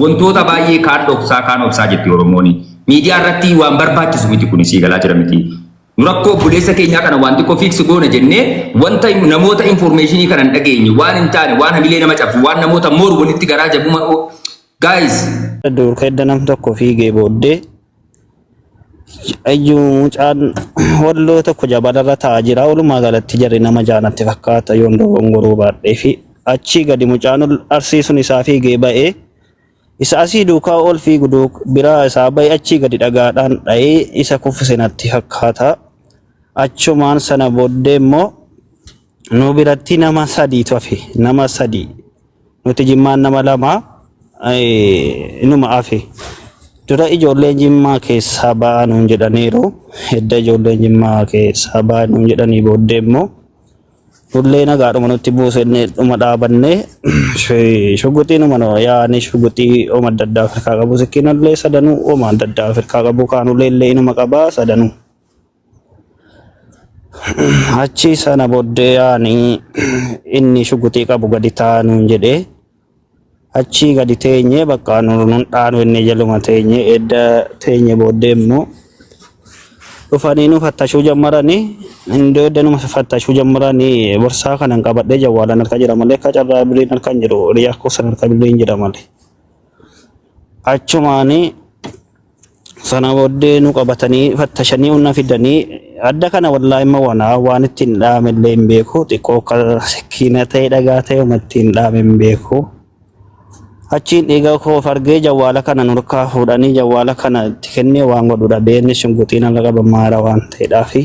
Wantoota baay'ee kaan dhoksaa kaan obsaa jetti Oromoon. Miidiyaa irratti waan barbaachisu miti kun sii galaa jira miti. Nu rakkoo obboleessa keenyaa kana waan xiqqoo fiiksi goona jennee wanta hin- namoota infoormeeshinii kana hin dhageenye waan hin taane waan hamilee nama cabsu waan namoota mooru walitti garaa jabuma. Gaayis Duurka edda nam tokko fiigee booddee Ayyuu mucaan walloo tokko jabalarra taa'aa jira. Walumaa galatti jarri nama jaanatti fakkaata yoon dogongoruu baadhee fi achii gadi mucaan ol arsii sun isaa fiigee ba'ee isa asii duukaa ol fiigu duuk biraa isaa ba'ee achii gadi dhagaadhaan dha'ee isa kuffise natti fakkaata. Achumaan sana booddee immoo Nu biratti nama sadiitu hafe. Nama sadii. Nuti jimmaan nama lama eh, numa hafe. Dura ijoolleen jimmaa keessaa ba'aa nuun jedhaniiru. Edda ijoolleen jimmaa keessaa ba'aa nuun jedhanii booddee immoo Hullee nagaadhuma nutti buusennee dhuma dhaabannee shi- shuguxii numa noo yaa'anii shuguxii oma adda addaa Afrikaa qabu sikkiinallee sadanuu oma adda addaa Afrikaa qabu kaanullee illee inuma qabaa sadanuu. Achi sana booddee yaani inni shuguxii qabu gadi taa'aa nuun jedhee achii gadi teenyee bakka nun dhaanu inni jaluma teenyee edda teenye booddee immoo dhufanii nu fattashuu jammaranii indoo edda nu fattashuu jammaranii borsaa kanan qabadhee jawwaalan harka jira malee akka carraa birriin harka hin jiru hiriyaa koo san harka birriin jira malee achumaanii Sana booddee nu qabatanii fattashanii unna fidanii adda kana wallaahi immoo wanaa waan ittiin dhaame illee hin beeku xiqqoo akka sikiina ta'e dhagaa ta'e uma ittiin dhaame hin beeku. Achiin dhiiga koo of argee jawwaala kana nurkaa fuudhanii jawwaala kana itti kennee waan godhu dhabee inni shunguxiin ala qabamaara waan ta'eedhaafi.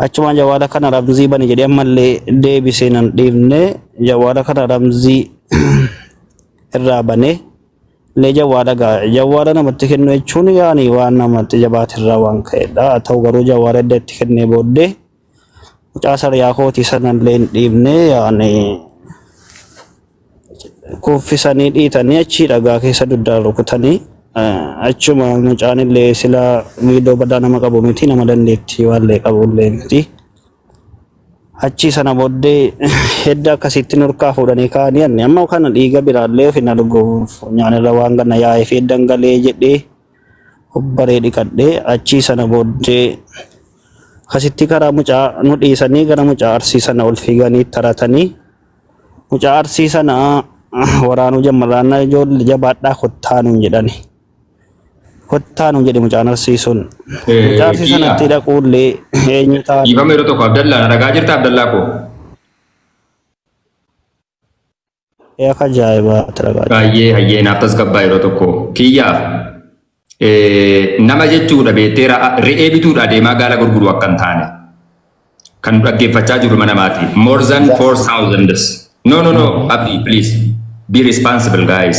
Achumaan jawwaala kana ramzii bani jedhee ammallee deebisee nan dhiifne jawwaala kana ramzii irraa banee. Illee jawwaadha gaa jawwaadha namatti kennu jechuun yaani waan namatti jabaate irraa waan ka'edha haa ta'u garuu jawwaadha edda itti kennee booddee mucaa sariyaa kootii sana illee hin dhiibne yaani kuffisanii dhiitanii achii dhagaa keessa dugdaan rukutanii eh, achuma mucaan illee sila miidhoo badaa nama qabu miti nama dandeettii waallee qabu illee miti Achii sana booddee hedda akkasitti nurkaa fuudhanii kaa'anii anni amma kana dhiiga biraallee ofi na dhuguuf nyaanirra waan ganna yaa'ee fi heddan galee jedhee hubbaree dhiqadhee achii sana booddee akkasitti karaa mucaa nu dhiisanii gara mucaa arsii sana ol fiiganii taratanii mucaa arsii sana waraanuu jammarraanna ijoollee jabaadhaa kottaa nuun jedhani. Kottaa nuun jedhe mucaan arsii sun. Eh, Mucaa arsii kiidha. sanatti dhaquullee eenyu ta'a? Dhiifama yeroo tokko Abdallaa na dhagaa jirta Abdallaa koo. Akka ajaa'ibaa talagaa. Baay'ee hayyee naaf tasgabbaa yeroo tokko. Kiyyaa eh, nama jechuudha beektee ra- re'ee bituudha deemaa gaala gurguru akka hin taane. Kan nu dhaggeeffachaa jiru mana maatii. More than 4,000. No, no, no, Abdi, please. Be responsible, guys.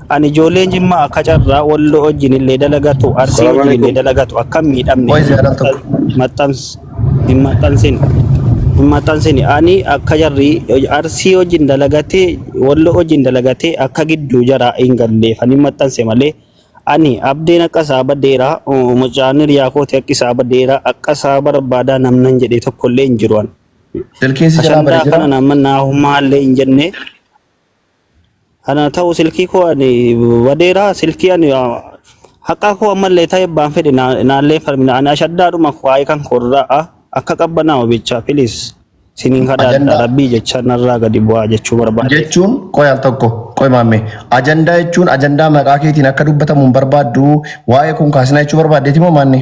Ani ijoolleen Jimmaa akka carraa Walloo wajjin illee dalagatu, Arsii Salaam wajjin illee alaikum. dalagatu akka hin miidhamne Qoy ziyaaraa tokko. maxxans hin maxxansin. Hin maxxansini. Ani akka jarri Arsii wajjin dalagatee Walloo wajjin dalagatee akka gidduu jaraa hin galleef ani hin maxxanse malee ani abdeen akka isaa badeera uh, mucaan hiriyaa kooti akka isaa badeera akka isaa barbaadaa namnan jedhee tokkollee hin jiru ani. Silkiin si jalaa Ashandaa bade jira. kana nama naahumaallee hin jenne Ana ta'u silkii koo ani badeera silkii ani haqaa koo ammallee ta'e baan fedhe naallee falmina ani ashaddaadhuma waa'ee kan korraa akka qabbanaa'u jecha filis siniin kadhaadha Ajandaa. rabbii jecha narraa gadi bu'aa jechuu barbaade. jechuun qoy al tokko qoy maammee ajandaa jechuun ajandaa maqaa keetiin akka dubbatamu hin barbaaddu waa'ee kun kaasina jechuu barbaaddeeti moo maanni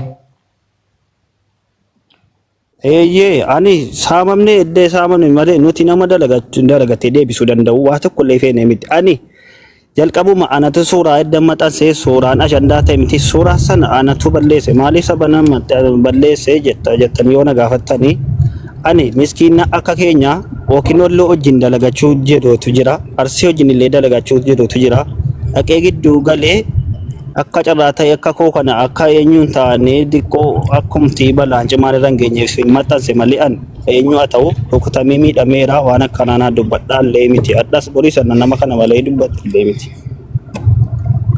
Eeyyee, ani saamamnee edda saamame malee nuti nama dalagatu hin dalagatee deebisuu danda'u waa tokko illee feene miti. Ani jalqabuma anatu suuraa edda maxansee suuraan ashandaa ta'e miti suuraa sana anatu balleesse maaliif saba nama balleesse jetta jettanii yoo na gaafattanii ani miskiina akka keenya yookiin olloo wajjin dalagachuu jedhuutu jira arsii wajjin illee dalagachuu jedhuutu jira dhaqee gidduu galee Akka carraa ta'e akka koo kana akka eenyuun taa'anii xiqqoo akkumtii balaan cimaan irra hin geenyeef hin maxxanse malee an eenyu haa ta'u rukutamee miidhameera waan akkanaa naa dubbadhaa illee miti addas borii sana nama kana malee dubbadhu illee miti.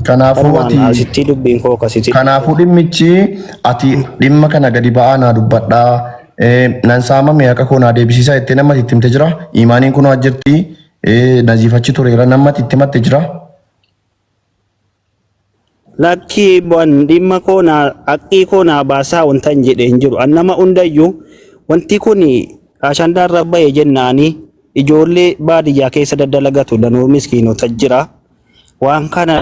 Kanaafuu Kanumaan ati asittii dubbiin koo akkasitti. kanaafuu dhimmichi ati dhimma kana gadi ba'aa naa dubbadhaa eh, nan saamame haqa koo naa deebisiisaa jettee nama itti himte jira imaaniin kunoo as jirti eh, naziifachi tureera nama itti himatte jira. Lakkii bu'an dhimma koo naa haqqii koo naa baasaa wanta hin jedhe hin jiru. An nama hundayyuu wanti kun ashandaa irra ba'e jennaanii ijoollee baadiyyaa keessa daddalagatu danuu miskiinota jira. Waan kana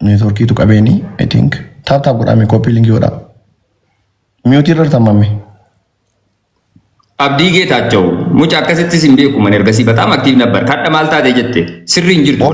Neetworkiitu qabeeni I think. Taap taap godhaa mee koppii linkii godhaa. Miyuutii irra tartamame. Abdii Geetaachaw muca akkasittis hin beeku man ergasii bataam aktiiv nabbar kadha maal taate jette sirri hin jirtu.